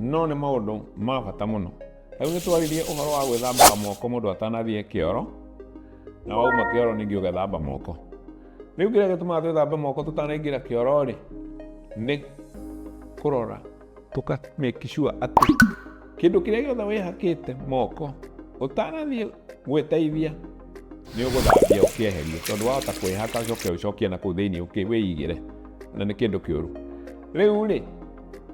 no nĩ maũndũ ma bata mũno rĩu nĩ twaririe ũhoro wa gwĩthambaga moko mũndũ atanathiĩ kĩoro na wauma kĩoro ningĩ ũgethamba moko rĩu kĩrĩa gĩtũmaga twĩthambe moko tũtanaingĩra kĩoro rĩ nĩ kũrora tũka make sure atĩ kĩndũ kĩrĩa gĩothe wĩhakĩte moko ũtanathiĩ gwĩteithia nĩ ũgũthambia ũkĩeherie tondũ wahota kwĩhaka ũcoke ũcokie na kũu thĩinĩ ũkĩ wĩigĩre na nĩ kĩndũ kĩũru rĩu rĩ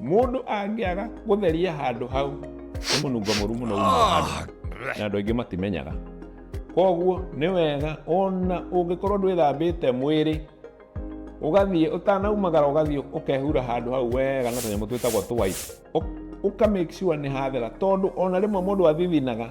Mũndũ angĩaga gũtheria handũ hau nĩ mũnungo mũru mũno ah. na andũ aingĩ matimenyaga. Koguo nĩ wega ona ũngĩkorwo ndwĩthambĩte mwĩrĩ ũgathiĩ ũtanaumagara ũgathiĩ ũkehura handũ hau wega na tũnyamũ twĩtagwo twipe ũka make sure nĩ hathera tondũ ona rĩmwe mũndũ athithinaga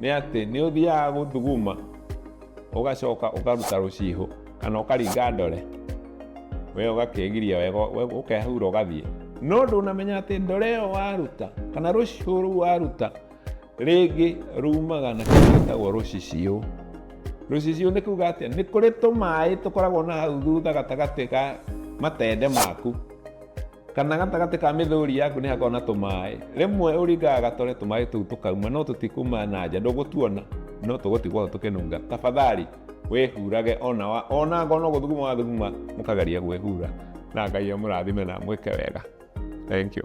nĩ atĩ nĩ ũthiaga gũthuguma ũgacoka ũkaruta rũcihũ kana ũkaringa ndore we ũgakegiria wega ũkehura ũgathiĩ no ndũnamenya atĩ ndore ĩyo waruta kana rũcihũ rũu waruta rĩngĩ rumaga na kĩndũ gĩtagwo rũciciũ rũciciũ nĩ kuga atĩa nĩ kũrĩ tũmaĩ tũkoragwo na hau thutha gatagatĩ ga matende maku kana gatagatĩ ka mĩthũri yaku nĩ hakoragwo na tũmaĩ rĩmwe ũringaga gatore tũmaĩ tũu tũkauma no tũtikuma na nja ndũgũtuona no tũgũtigwo tũkĩnunga tafadhali wĩhurage ona wa- ona ngona gũthuguma wathuguma mũkageria gwĩhura na ngai amũrathime na mwĩke wega thank you